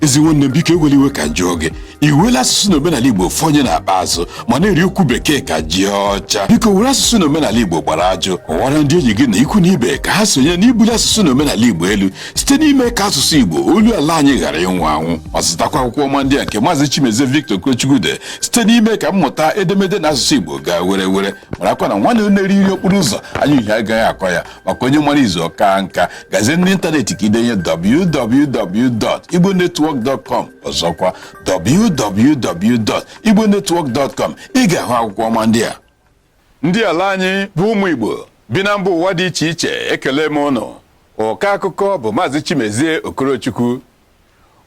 ezi nwanne m biko ewela iwe ka m jụọ gị i wela asụsụ na omenala igbo fonye n'akpa azụ ma na-eri okwu bekee ka ji ọcha biko were asụsụ na omenala igbo gbara ajụ kọwara ndị enyi gị na ikwu na ibe ka ha sonye n'ibuli asụsụ na omenala igbo elu site n'ime ka asụsụ igbo olu ala anyị ghara ịnwụ anwụ ma zụtakwa akwụkwọ ọma ndị a nke maazị chimezie victor okorochukwu dere site n'ime ka mmụta edemede na asụsụ igbo gaa were were marakwa na nwanne na-eri nri okporo ụzọ anya uhie agaghị akọ ya maka onye mara izu ọ kaa nka gazie n'ịntanetị ka i denye www.igbonetwork.com ọzọkwa www.igbonetwork.com ị ga-ahụ akwụkwọ ọma ndị a ndị ala anyị bụ ụmụ Igbo bi na mba ụwa dị iche iche ekele m unu ọka akụkọ bụ Maazị Chimezie Okorochukwu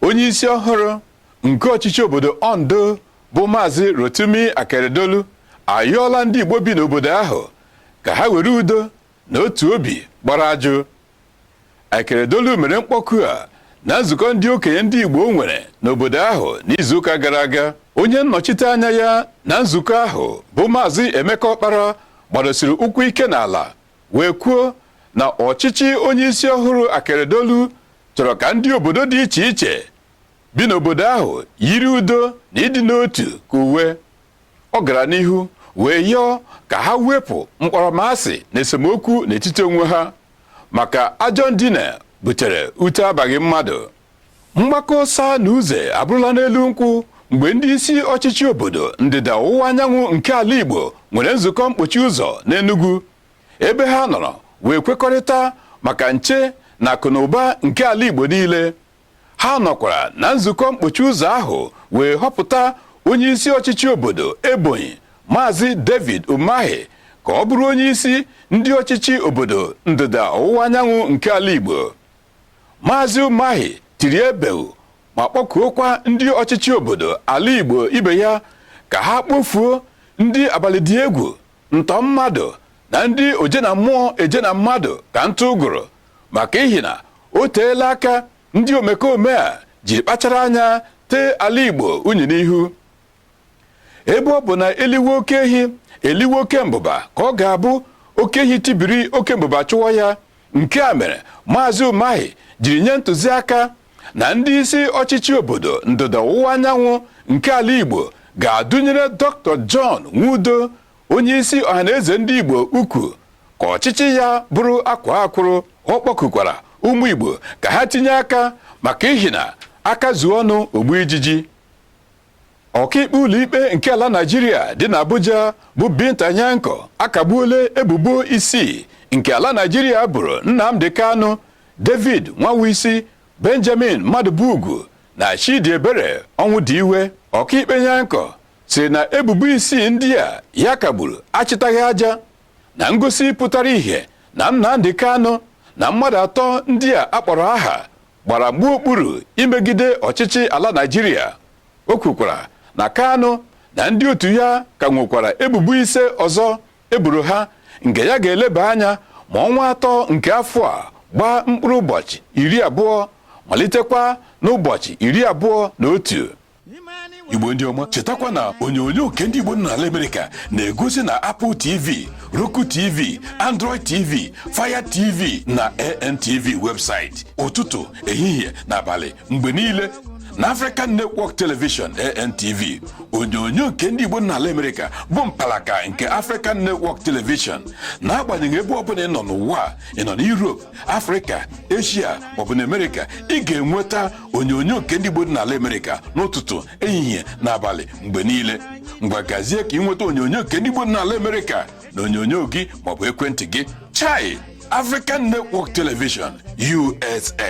onye isi ọhụrụ nke ọchịchị obodo Ondo bụ Maazị Rotimi Akeredolu ayọọla ndị Igbo bi n'obodo ahụ ka ha were udo na otu obi gbara ajụ Akeredolu mere mkpọku a na nzukọ ndị okenye ndị Igbo nwere n'obodo ahụ n'izuụka gara aga onye nnọchite anya ya na nzukọ ahụ bụ maazị Emeka Ọkpara gbadosiri ụkwụ ike n'ala wee kwuo na ọchịchị onye isi ọhụrụ Akeredolu chọrọ ka ndị obodo dị iche iche bi n'obodo ahụ yiri udo na ịdị n'otu ka uwe Ọ gara n'ihu wee yọọ ka ha wepụ mkpọrọmasị na esemokwu n'etiti onwe ha maka ajọ ndina butere ute abaghị mmadụ. Mgbakọ ọsa na uze abụrụla n'elu nkwụ mgbe ndị isi ọchịchị obodo ndịda ọwụwa anyanwụ nke ala Igbo nwere nzukọ mkpochi ụzọ n'Enugu ebe ha nọrọ wee kwekọrịta maka nche na akụnụba nke ala Igbo niile. ha nọkwara na nzukọ mkpochi ụzọ ahụ wee họpụta onye isi ọchịchị obodo Ebonyi Maazị David Umahi ka ọ bụrụ onye isi ndị ọchịchị obodo ndịda ọwụwa anyanwụ nke ala Igbo Maazị Umahi tiri ebeu ma kpọkuokwa ndị ọchịchị obodo ala Igbo ibe ya ka ha kpofuo ndị abalị dị egwu ntọ mmadụ na ndị oje na mmụọ eje na mmadụ ka ntụ ụgụrụ maka ihi na o teela aka ndị omekome a jiri kpachara anya tee ala Igbo unyi n'ihu ebe ọ bụ na e liwe oke ehi e liwe oke mbụba ka ọ ga-abụ oke ehi tibiri oke mbụba chụwa ya nke a mere maazị Umahi jiri nye ntụziaka na ndị isi ọchịchị obodo ndịda ọwụwa anyanwụ nke ala Igbo ga-adọnyere Dr. John Nwodo onye isi ọhaneze ndị Igbo ukwu ka ọchịchị ya bụrụ akwaa akwụrụ ọ kpọkukwara ụmụ Igbo ka ha tinye aka maka ihi na aka zuo ọnụ o gbuo ijiji ọkaikpe ụlọikpe nke ala naijiria dị n'abuja bụ binta nyanko akagbuola ebubo isii nke ala naijiria buru nnamdi kanu david nwawuisi benjamin madubugwu na chidiebere ọnwụdiwe ọkaikpe nyanko sịrị na ebubo isii ndị a ya kagburu achịtaghị aja na ngosi pụtara ìhè na nnamdi kanu na mmadụ atọ ndị a akpọrọ aha gbara mgba okpuru imegide ọchịchị ala Naịjirịa o kwukwara na Kanu na ndị otu ya ka nwekwara ebubo ise ọzọ eburu ha nke ya ga-eleba anya ma ọnwa atọ nke afọ a gbaa mkpụrụ ụbọchị iri abụọ malitekwa n'ụbọchị iri abụọ na otu igbo ndị ọma chetakwa na onyonyo nke ndị igbo nọ n'ala amerịka na-egosi na apple tv roku tv android tv fire tv na antv webụsaịtị ụtụtụ ehihie na abalị mgbe niile na african network television antv onyonyo nke ndị igbo nọ n'ala amerịka bụ mpalaka nke african network television n'agbanyeghị ebe ọbụla ị nọ n'ụwa ị nọ na europe afrịka eshia maọbụ na amerịka ị ga-enweta onyonyo nke ndị igbo dị n'ala amerịka n'ụtụtụ ehihie na abalị mgbe niile ngwa gazie ka ị nweta onyonyo nke ndị igbo dị n'ala amerịka na onyonyo gị maọbụ ekwentị gị chai african network television usa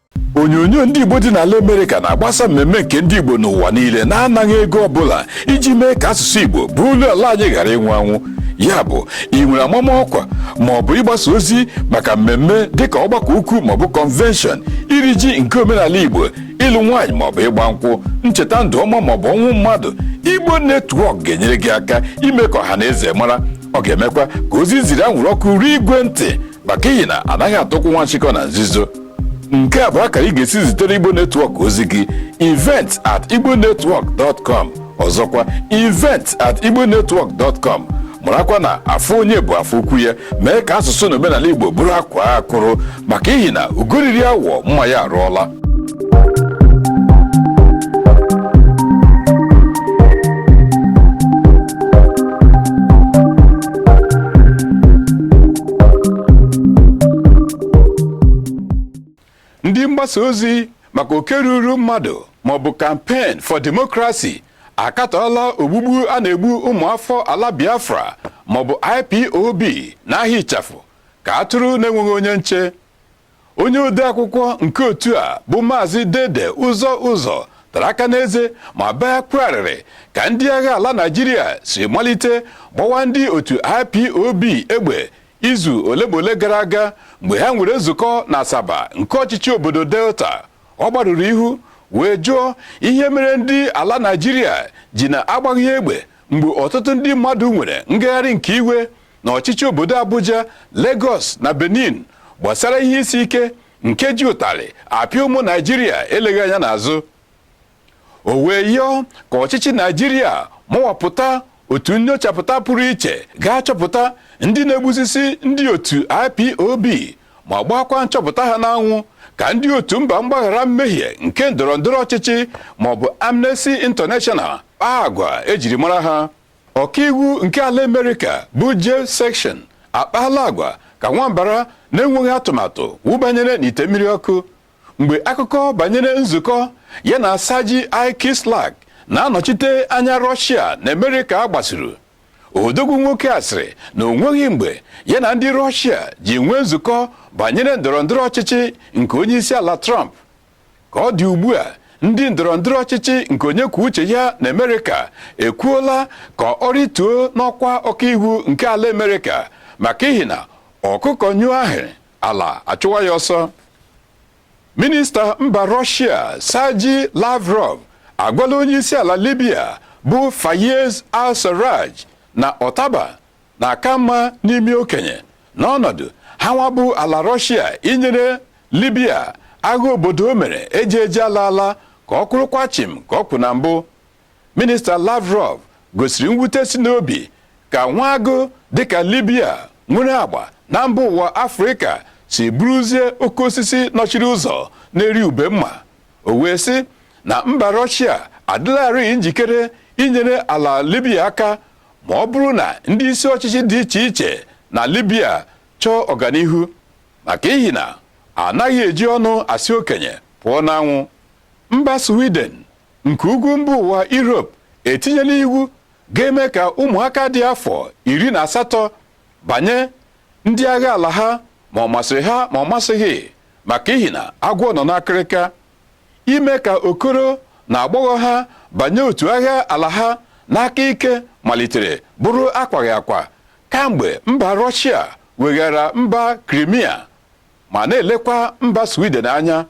onyonyo ndị Igbo dị n'ala Amerịka na-agbasa mmemme nke ndị Igbo n'ụwa niile na-anaghị ego ọbụla iji mee ka asụsụ Igbo bụ olu ala anyị ghara ịnwụ anwụ ya bụ ị nwere amama ọkwa ma ọ bụ ịgbasa ozi maka mmemme dịka ọgbakọ ukwu maọbụ kọnvenshọn iri ji nke omenala Igbo ịlụ nwaanyị maọbụ ịgba nkwụ ncheta ndụ ọma maọbụ ọnwụ mmadụ Igbo netwọk ga-enyere gị aka ime ka ọha na eze mara ọ ga-emekwa ka ozi e ziri anwụrụ ọkụ ruo igwe ntị maka ihi na anaghị ata ụkwụ nwa nchịkọ na nzuzo nke a bụ akara ị ga-esi zitere igbo netwọk ozi gị event at igbonetwork.com ọzọkwa event at igbonetwork.com marakwa na afọ onye bụ afọ ukwu ya mee ka asụsụ na omenala igbo bụrụ akwaa akwụrụ maka ihi na ugo riri awọ mma ya arụọla ndị mgbasa ozi maka oke ruru mmadụ maọbụ campaign for democracy akatọọla ogbugbu a na-egbu ụmụafọ ala biafra maọbụ ipob n'ahịa ịchafụ ka atụrụ na-enweghị onye nche onye odeakwụkwọ nke otu a bụ maazị dede ụzọ ụzọ tara aka n'eze ma bee akwa arịrị ka ndị agha ala naijiria si malite gbawa ndị otu ipob egbe izu ole ma ole gara aga mgbe ha nwere nzukọ na asaba nke ọchịchị obodo delta ọ gbarụrụ ihu wee jụọ ihe mere ndị ala naijiria ji na-agbaghị egbe mgbe ọtụtụ ndị mmadụ nwere ngagharị nke iwe na ọchịchị obodo Abuja, Lagos na Benin gbasara ihe isi ike nke ji ụtarị apịa ụmụ Naijiria eleghị anya n'azụ o wee yọọ ka ọchịchị Naijiria mụwapụta otu nnyochapụta pụrụ iche ga-achọpụta ndị na-egbusisi ndị otu IPOB ma gbakwa nchọpụta ha n'anwụ ka ndị otu mba mgbaghara mmehie nke ndọrọ ndọrọ ọchịchị maọbụ Amnesty International kpaa agwa ejiri mara ha Ọkaiwu nke ala Amerịka bụ Jeff Sessions akpaala agwa ka nwa mbara na-enweghị atụmatụ wụbanyere n'ite mmiri ọkụ mgbe akụkọ banyere nzukọ ya na Sergei I. Kislyak na-anọchite anya Rọshia na Amerịka gbasuru odogwu nwoke a sịrị na o nweghị mgbe ya na ndị Rọshia ji nwee nzukọ banyere ndọrọ ndọrọ ọchịchị nke onye isi ala Trump Ka ọ dị ugbu a, ndị ndọrọ ndọrọ ọchịchị nke onye kwuo uche ya na Amerịka ekwuola ka ọ rịtuo n'ọkwa ọkaiwu nke ala Amerịka maka ihi na ọkụkọ nyụọ ahụrụ, ala achụwa ya ọsọ. Minista mba Rọshịa Sergei Lavrov agwala onyeisiala Libya bụ Fayez al-Sarraj na ọtaba na-aka mma n'imi okenye n'ọnọdụ ha nwa bụ ala Rọshịa inyere Libya agha obodo o mere eje eje ala ala aka ọ kwụrụkwa chịm ka ọ kwụ na mbụ minista Lavrov gosiri mwute si n'obi ka nwa agụ dịka Libya nwere agba na mba ụwa Afrịka si bụrụzie oke osisi nọchiri ụzọ na-eri ube mma o wee sị na mba Rọshịa adịlarịị njikere inyere ala Libya aka ma ọ bụrụ na ndị isi ọchịchị dị iche iche na Libya chọọ ọganihu maka ihi na anaghị eji ọnụ asị okenye pụọ n'anwụ mba Sweden nke ugwu mba ụwa Europe etinyela iwu ga-eme ka ụmụaka dị afọ iri na asatọ banye ndị agha ala ha ma ọ masịrị ha ma ọ masịghị maka ihi na agwọ nọ n'akịrịka ime ka okoro na agbọghọ ha banye otu agha ala ha n'aka ike malitere bụrụ akwaghị akwa kamgbe mba Rọshịa weghara mba Krimia ma na-elekwa mba Sweden anya.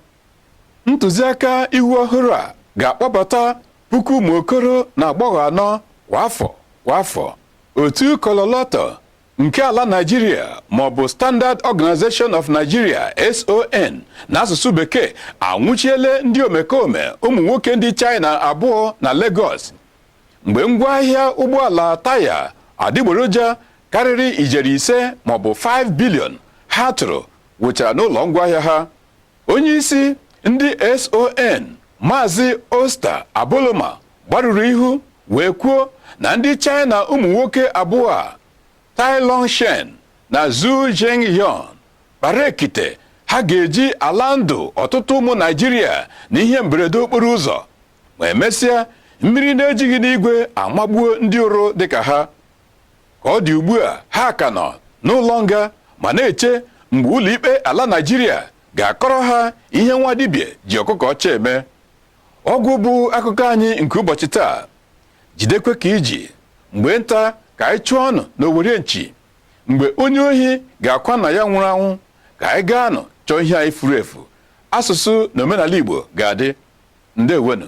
Ntụziaka iwu ọhụrụ a ga-akpọbata puku ụmụ okoro na agbọghọ anọ kwa afọ kwa afọ. Otu Kololotto nke ala Nigeria ma ọ bụ Standard Organization of Nigeria SON n'asụsụ bekee anwụchiele ndị omekome ụmụ nwoke ndị China abụọ na Lagos mgbe ngwaahịa ụgbọala taya adịgboroja karịrị ijeri ise maọbụ 5 bilion ha tụrụ wụchara n'ụlọ ngwaahịa ha Onyeisi ndị SON Maazị Osita Aboloma gbarụrụ ihu wee kwuo na ndị China ụmụ nwoke abụọ a Tai Long Shen na Zhu Zhengyong kpara ekite ha ga-eji ala ndụ ọtụtụ ụmụ Naịjirịa na ihe mberede okporo ụzọ ma emesịa mmiri na-ejighị n'igwe amagbuo ndị ụrụ dịka ha Ka ọ dị ugbu a, ha ka nọ n'ụlọ nga ma na-eche mgbe ụlọikpe ala Naịjirịa ga-akọrọ ha ihe nwa dibịa ji ọkụkọ ọcha eme. Ọ gwụ bụ akụkọ anyị nke ụbọchị taa. Jidekwe ka i ji mgbe nta ka anyị chụọ anụ n'owere nchi mgbe onye ohi ga-akwa nna ya nwụrụ anwụ ka anyị gaanụ chọọ ihe anyị furu efu. Asụsụ na omenala Igbo ga-adị. Ndeewonụ.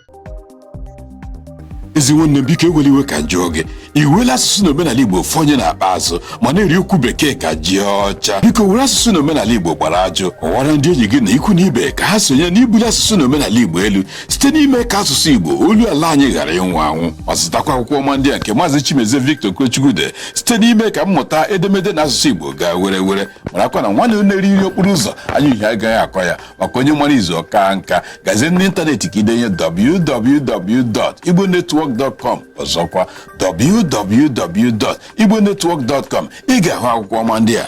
ezi nwanne m biko ewela iwe ka m jụọ gị i weela asụsụ na omenala igbo fonye n'akpa azụ ma na-eri okwu bekee ka ji ọcha biko were asụsụ na omenala igbo gbara aju kọwara ndị enyi gị na ikwu na ibe ka ha sonye n'ibuli asụsụ na omenala igbo elu site n'ime ka asụsụ igbo olu ala anyị ghara ịnwụ anwụ ma zụtakwa akwụkwọ ọma ndị a nke maazị chimezie victor okechukwu dere site n'ime ka mmụta edemede na asụsụ igbo gaa were were marakwa na nwanne na-eri nri okporo ụzọ anya uhie agaghị akọ ya maka onye mara izu ọ kaa nka gazie n'ịntanetị ka i denye www.igbonetwork.com ọzọkwa www.igbonetwork.com ị ga-ahụ akwụkwọ ọma ndị a